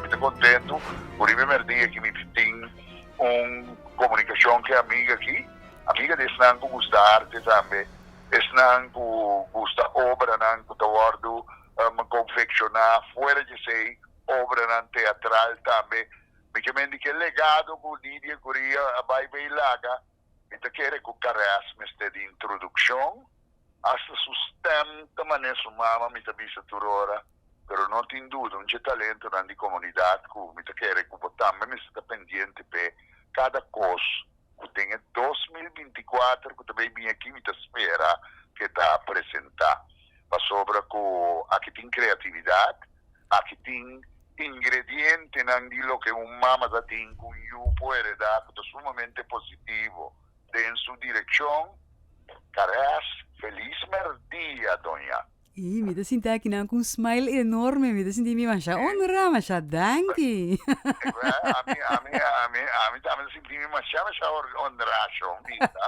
Mi ta kontentu ku riba e merdía aki mi tin un komunikashon ku e amiga aki. Amiga di esnan ku gusta arte tambe. Esnan ku gusta obranan ku ta wòrdu konfekshoná fuera djesei obranan teatral tambe. Mi ke mendi ku e legado ku Lidia Guria a bai bei laga Mi ta kere ku Caresse mester di introdukshon, asta su stèm ta manera su mama, mi ta bisa tur ora. Pero no tin duda, un dje talentonan di komunidat ku mi ta kere ku bo tambe mester ta pendiente p'e kada kos ku den e dos mil binti kuater ku ta bai bin aki mi ta spera ku e ta presentá. Pasobra ku aki tin kreatividat. Aki tin ingredientenan di loke un mama ta tin ku un yu por heredá ku ta sumamente positivo den su direkshon, Caress, Feliz mer dia, doña. Ii, mi ta sinti aki nan ku un smile enorme, mi ta sinti mi masha onra, masha danki. E ku e, ami, ami, ami, ami tambe ta sinti mi masha, masha onra, Shon Binda.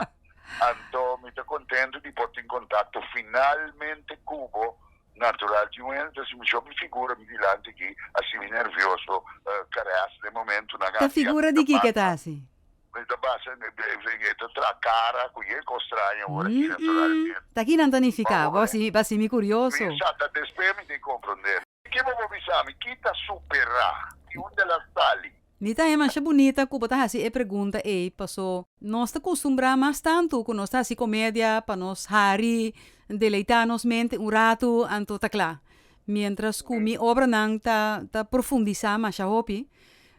Anto mi ta kontentu di por tin kontakto finalmente ku bo. Natural di un hende si mi shop mi figura mi dilanti aki asi mi nervioso carest den momentunan aki a mi ta basa mi ta basa e ta traha cara cuye cos traña ora aki naturalmente mi sa ta despe mi ta comprende. Kibo bo bisa mi kita supera y unda la sali. Mi ta demasha bunita ku bo ta hasi e pregunta ei, paso nos ta kustumbrá mas tantu ku nos ta hasi komedia pa nos hari deleitá nos mente un ratu, anto ta kla. Miéntras ku mi obranan ta ta profundisá masha hopi.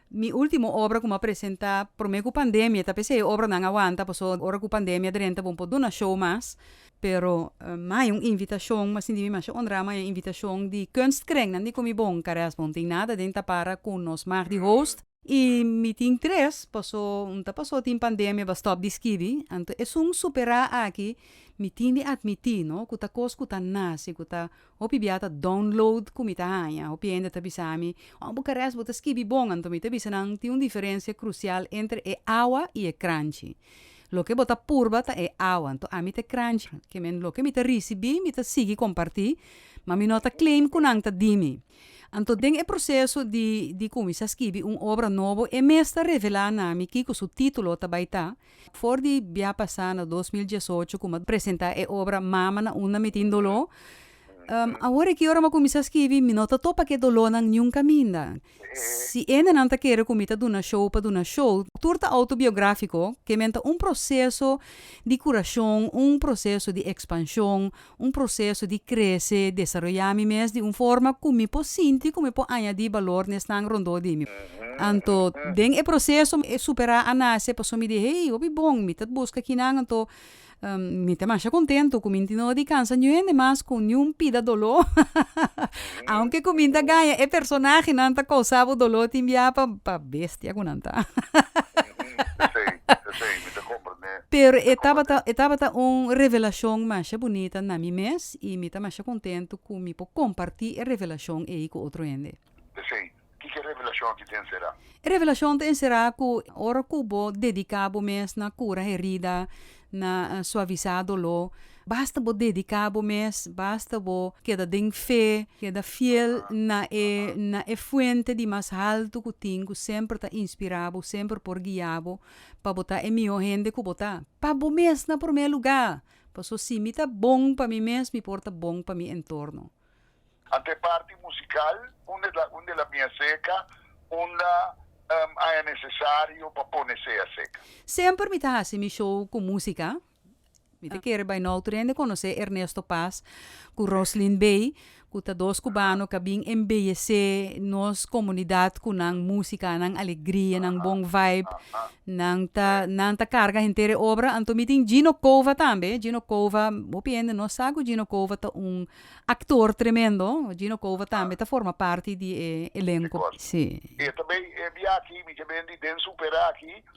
Mi último obra ku mi a presentá promé ku pandemia, ta p'esei e obranan a wanta, paso ora ku pandemia drenta bo no por duna show mas. Pero mi a haya un invitacion, mi sintiba masha honra, mi a haya un invitacion di Kunstkringnan di Kumibon, Carreras Bon, tin nada den ta para cu nos mag di host, y mi tin tres, paso mi ta paso tin pandemia ba stop di skibi, anto esun supera aki mi tin di admiti, no, cu ta cos cu ta naci, cu ta Hopi bia ta download ku mi ta haña. Hopi hende ta bisa mi, Oh, Bukares, bo ta skibi bon. Anto mi ta bisa nan, tin un diferensia krusial entre e awa i e kranchi. Loke bo ta purba ta e awa, anto ami ta e kranchi. Ke men loke mi ta risibí, mi ta sigui kompartí, ma mi no ta claim ku nan ta di mi. Anto den e proseso di di kuminsá skibi un obra nobo, e mes ta revelá na mi kiko su título ta bai ta, For di bia pasá na dos mil diesocho ku mi a presentá e obra Mama na unda mi tin doló, awor aki ora mi a kuminsá skibi mi no ta topa ku e dolónan niun kaminda. Si endenan ta kere ku mi ta duna show pa duna show, tur ta outobiográfiko, ke men ta un proseso di kurashon, un proseso di ekspanshon, un proseso di krese, desaroyá mi mes di un forma ku mi por sinti ku mi por añadí balor na esnan rondó di mi. Anto den e proseso e superá a nase, pasobra mi di, Hei, hopi bon, mi ta buska kinan, anto mi ta masha kontentu ku mi no di kansa niun hende mas ku niun pida doló. Aunke ku mi ta gaña e personahe, nan ta kousa bo doló tin bia pa bestia ku nan ta. Pero e tabata e tabata un revelacion masha bunita na mi mes y mi ta masha contento cu mi por comparti e revelacion ey cu otro hende. P'esey, kiko e revelacion aki ta encera? E revelacion ta encera cu ora cu bo dedica bo mes na cura herida, na suaviza dolo, basta bo dedica bo mes, basta bo keda den fe, keda fiel na e na e fuente di mas halto cu tin cu semper ta inspira bo, semper por guia bo, pa bo ta e mihó hende ku bo ta, pa bo mes na promé lugá. Paso si mi ta bon pa mi mes, mi por ta bon pa mi entorno. Anta e parti musikal unda ta unda el a bin a seka, unda a nesesario pa pone se a seka. Semper mi ta hasi mi show ku músika. Mi ta kere bai nou tur hende konosé Ernesto Paz ku Roslin Bey, ku ta dos kubano ku a bin embeyesé nos komunidat ku nan músika, nan alegria, nan bon vibe. Nan ta nan ta karga henter e obra. Anto mi tin Gino Cova tambe. Gino Cova, hopi hende no sa ku Gino Cova ta un aktor tremendo. Gino Cova tambe ta forma parti di e elenko. Sí. Tabey e biaha aki mi ta bini den Super aki.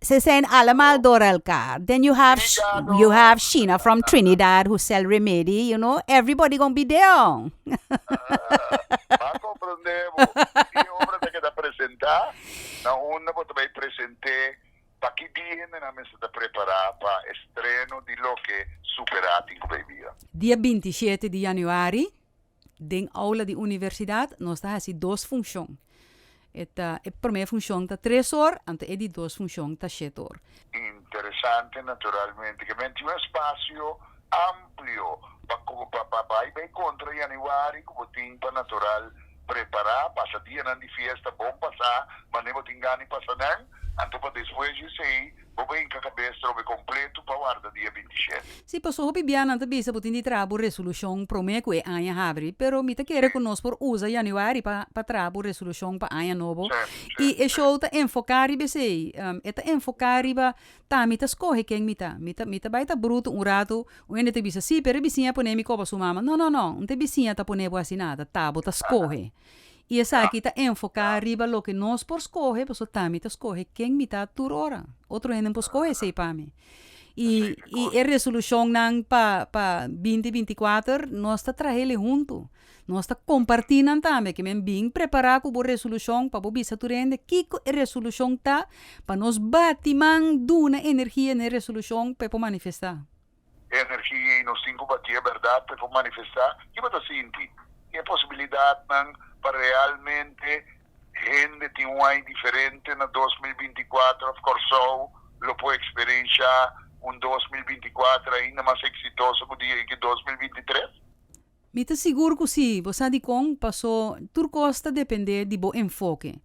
Ze zijn allemaal door elkaar then you have you have shina from trinidad who sell remedy you know everybody gon be there on M'a comprende bo. Di e obra ta keda presenta na unda bo ta bai presente paki di hendenan mester ta prepara pa estreno di loke Supera tin ku bai bira. Dia binti shete di yanüari. Den oula di universidat nos ta hasi dos funcion. E ta e prome funcion ta tres or anto e di dos funcion ta shete or. Interesante naturalmente ke men tin un espacio amplio pa pa bai bay contra Januari ku bo tin pa natural prepara pasa dianan di fiesta bon pasa mane bo tin gana di pasa nan anto pa despues di esey bo bai hinka kabes trobe kompletu pa warda dia binti shete. Si, paso hopi bia nan ta bisa bo tin di traha bo resolushon promé ku e aña habri, pero mi ta kere ku nos por usa yanüari pa pa traha bo resolushon pa aña nobo. I e show ta enfoká riba esei, e ta enfoká riba ta mi ta skohe ken mi ta. Mi ta mi ta bai ta brutu un ratu, un hende ta bisa, sí, pero e bisiña a pon'é mi koba su mama. No, no, no, un te bisiña ta pon'é bo asina, ta ta bo ta skohe. I esaki ta enfoká riba loke nos por skohe, pasobra tambe ta skohe ken mi ta tur ora. Otro hende no por skohe esei pa mi. I i e resolushonnan pa pa binti binti kuater nos ta traha elei huntu. Nos ta kompartí nan tambe. Ke men bin prepará ku bo resolushon pa bo bisa tur hende kiko e resolushon ta, pa nos bati man duna energia na e resolushon pa e por manifestá. E energia ei nos tin ku batia e bèrdat pa e por manifestá kiba ta sinti i e posibilidatnan pa realmente hende tin un aña diferente na dos mil binti i kuater òf Kòrsou lo por eksperenshá un dos mil binti i kuater ainda mas eksitoso ku di ei ku dos mil binti i tres. Mi ta sigur ku sí, bo sa dikon, pasó tur kos ta dependé di bo enfoke.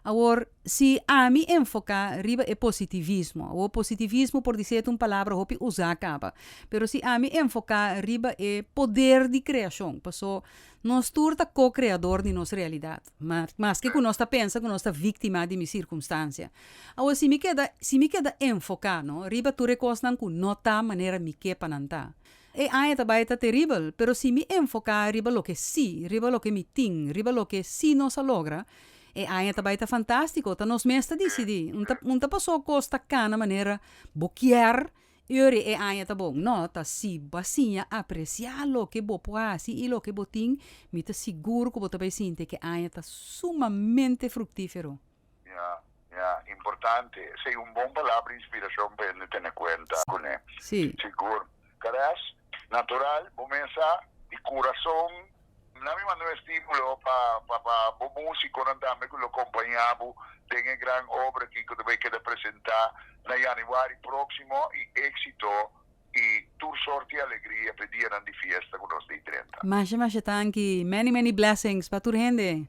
Awor, si ami enfoká riba e positivismo, awor positivismo por di seta un palabra hopi usá kaba, pero si ami enfoká riba e poder di kreashon, pasó nos tur ta ko-kreador di nos realidat, maske ku nos ta pensa ku nos ta víktima di mi sirkunstansia. Awor, si mi keda, si mi keda enfoká, no, riba tur e kosnan ku no ta manera mi ke pa nan ta, E aña ta bai ta teribel, pero si mi enfoká riba loke sí, riba loke mi tin, riba loke sí nos a logra, e aña ta bai ta fantástiko. Ta nos mes ta disidí. Un ta un ta pasó kos ta kana manera bo kier i ora e aña ta bon. No, ta si bo a siña apresiá loke bo por hasi i loke bo tin, mi ta sigur ku bo ta bai sinti ku e aña ta sumamente fruktífero. Ya, ya, importante. Esei un bon palabra inspiracion pa hende tene cuenta cu ne. Si. Sigur. Carèst, natural, bo mesa di curason, na mi manda un estimulo pa, pa, pa bo musiconan tambe cu lo compaña bo den e gran obra aki cu ta bay keda presenta na Januari proximo y exito y tur sort di alegria p'e dianan di fiesta cu nos di trenta. Masha, masha tanki. Many, many blessings pa tur hende.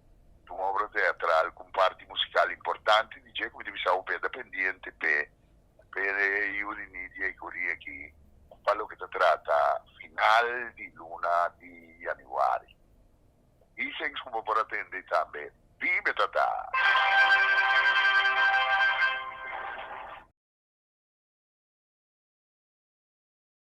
Dun obra teatral ku un parti musikal importante di dje ku mi ta bisa hopi a ta pendiente p'e pere yu di Nidia i Corie aki pa loke ta trata final di luna di yanüari. Bisengs ku bo por atende tambe biba e tata.